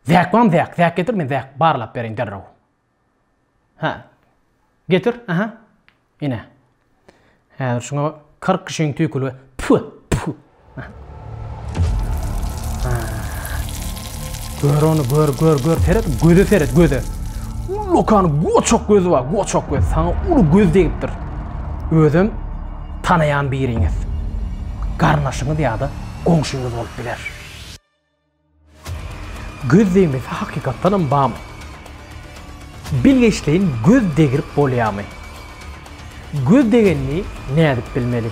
Zäk bam zäk, zäk getir men zäk barlap bereýin derrew. Hä. Getir, aha. Ine. Häzir şuňa 40 kişiň tüýküli. Pü, pü. Gör onu, gör, gör, gör, seret, göze seret, göze. Lokan goçak gözü var, goçak göz. Sana ulu göz deyiptir. Özüm tanayan biriniz. Garnaşınız ya da komşunuz olup biler. Göz degmesi hakykatdanam barmy? Bilgeşleýin göz degirip bolýarmy? Göz degenini nädip bilmeli?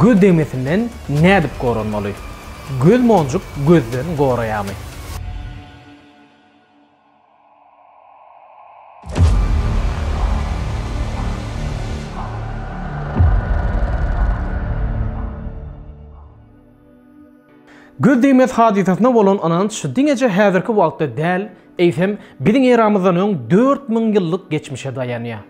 Göz degmesinden nädip goranmaly? Göz monjuk gözden goraýarmy? Göz degmez hadysasyna bolan ynanç diňeje häzirki wagtda däl, eýsem, biziň eramyzdan öň dört müň ýyllyk geçmişe daýanýar.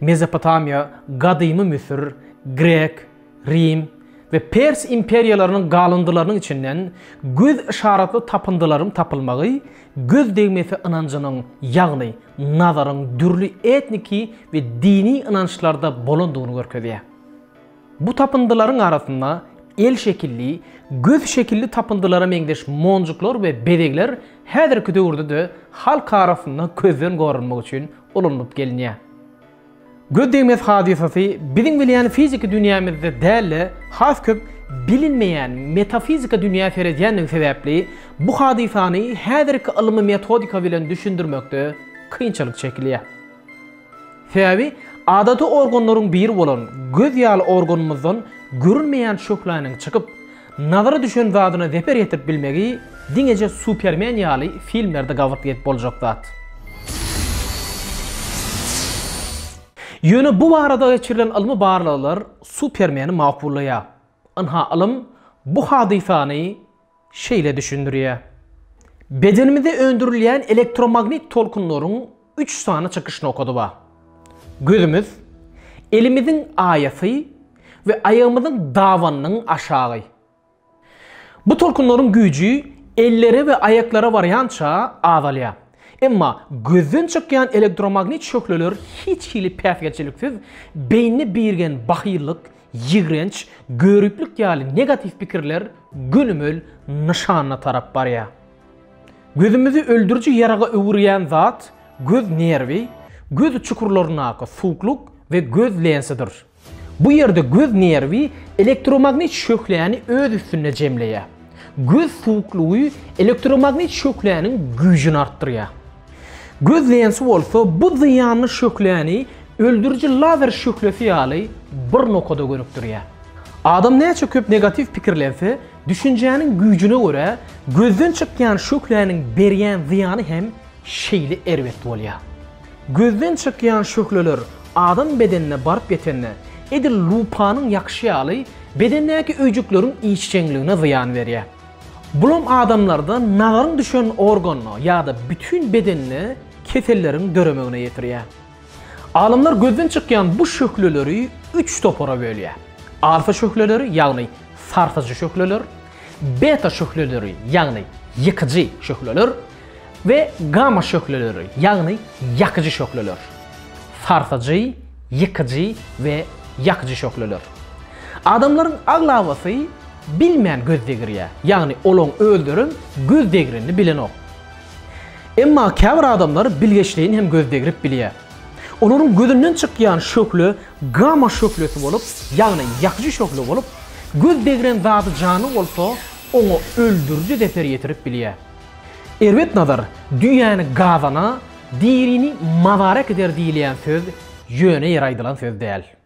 Mesopotamiýa, gadymy Müsür, grek, Rim we Pers imperiýalarynyň galyndylarynyň içinden göz yşaratly tapyndylaryň tapylmagy göz degmesi ynanjynyň, ýagny nazaryň dürli etniki we dini ynançlarda bolandygyny görkezýär. Bu tapyndylaryň arasynda el şekilli, göz şekilli tapyndylara meňzeş monjuklar we bezegler häzirki döwürde-de halk arasynda gözden gorunmak üçin ulanylyp gelinýär. Göz degmez hadysasy biziň bilýän fiziki dünýämizde däl-de, has köp bilinmeýän metafiziki dünýä seredýändigi sebäpli, bu hadysany häzirki ylmy metodika bilen düşündirmekde kynçylyk çekilýär. Sebäbi adaty organlaryň biri bolan göz ýaly organymyzdan görünmeýän şöhläniň çykyp, Nazary düşen zadyna zeper ýetirip bilmegi diňeje Supermen ýaly filmlerde gabat gelip boljak zat. Ýöne bu barada geçirilen ylmy barlaglar Supermeni makullaýar. Ynha ylym bu hadysany şeýle düşündirýär. Bedenimizde öndürilýän elektromagnit tolkunlaryň Üç sany çykyş nokady bar. Gözümiz, elimiziň aýasy we aýagymyzyň dabanynyň aşagy. Bu tolkunlaryň güýji ellere we aýaklara barýança azalýar. Emma gözden çykýan elektromagnit şöhleler hiç hili päsgelçiliksiz beýnini birgen bahyllyk, ýigrenç, göriplik ýaly negatiw pikirler gönümel nyşana tarap barýar. Gözümizi öldüriji ýaraga öwürýän zat göz nerwi, göz çukurlaryndaky suwuklyk we göz lensidir. Bu ýerde göz nerwi elektromagnit şöhläni öz üstünde jemleýär. Göz suwuklygy elektromagnit şöhläniň güýjüni artdyrýar. Göz lensi bolsa bu zyýanly şöhläni öldüriji lazer şöhlesi ýaly bir nokada gönükdirýär. Adam näçe köp negatiw pikirlense, Düşünjäniň güýjüne görä, gözden çykýan şöhläniň berýän zyýany hem şeýle erbet bolýar. Gözden çykýan şöhleler adam bedenine baryp ýetende, edil lupanyň ýakyşy ýaly, bedendäki öýjükleriň işjeňligine zyýan berýär. Bulam adamlarda nazaryň düşen organyna ýa-da bütin bedenine keselleriň döremegine getirýär. Alymlar gözden çykýan bu şöhleleri üç topara bölýär. Alfa şöhleleri, ýagny sarsajy şöhleler, beta şöhleleri, ýagny ýykyjy şöhleler we gamma şöhleleri, ýagny ýakyjy şöhleler. Sarsajy, ýykyjy we ýakyjy şöhleler. Adamlaryň aglabasy bilmän göz degirýär, ýagny olaň özlerem göz degrenini bilenok. Emma käbir adamlar bilgeşleýin hem göz degrip bilýär. Olaryň gözünden çykýan şöhle gama şöhlesi bolup, ýagny ýakyjy şöhle bolup, göz degren zady janly bolsa, oňa öldüriji zeper ýetirip bilýär. Erbet nazar düýäni gazana, dirini mazara äkider diýilýän söz ýöne ýere aýdylan söz däl.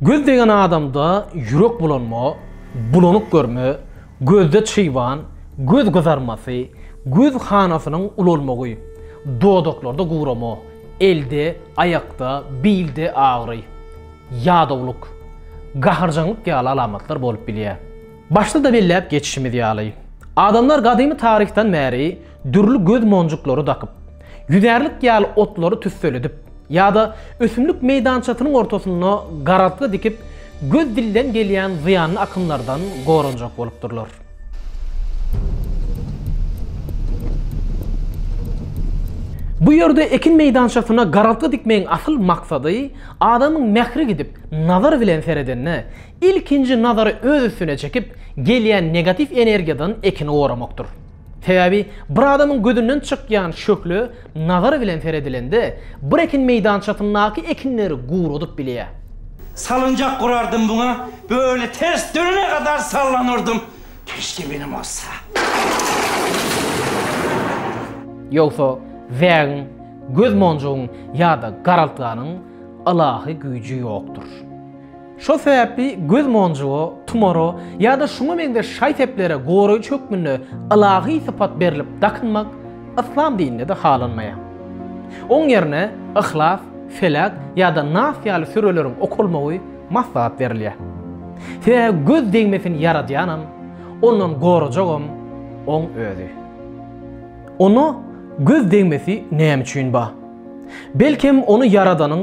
Göz degen adamda ýürek bulanma, bulanyk görme, gözde çyban, göz gyzarmasy, göz hanasynyň ulalmagy, dodaklarda gurama, elde, aýakda, bilde agyry, ýadawlyk, gaharjaňlyk ýaly alamatlar bolup bilýär. Başda-da belläp geçişimiz ýaly, adamlar gadymy taryhdan bäri Dürli göz monjuklary dakyp, ýüzärlik ýaly otlary tüsseledip ýa-da ösümlik meýdançasynyň ortasynda garaltga dikip, göz dilden gelýän zyýanly akymlardan goranjak bolupdyrlar. Bu ýerde ekin meýdançasyna garaltga dikmegiň asyl maksady adamyň mähri gidip, nazar bilen seredende, ilkinji nazary öz üstüne çekip, gelýän negatiw energiýadan ekini goramakdyr. Sebäbi bir adamyň gözünden çykýan şöhle nazar bilen seredilende, bir ekin meýdançasyndaky ekinleri guradyp bilýär. Salynjak gurardym muňa, böle ters dönene gadar sallanardym. Keşke benim bolsa. Ýogsa zägiň, göz monjugyň ýa-da garaltganyň ylahy güýji ýokdur. Şol sebäpli göz monjuga, tumara ýa-da şuňa meňzeş şaý-seplere goraýjy hökmünde ylahy sypat berlip dakynmak Yslam dininde-de halanmaýar. Oň ýerine Yhlas, Felak ýa-da Nas ýaly süreleriň okalmagy maslahat berilýär. Sebäbi göz degmesini ýaradýanam, ondan gorajagam Oň Özi. Onda göz degmesi näme üçin bar? Belkem, ony ýaradanyň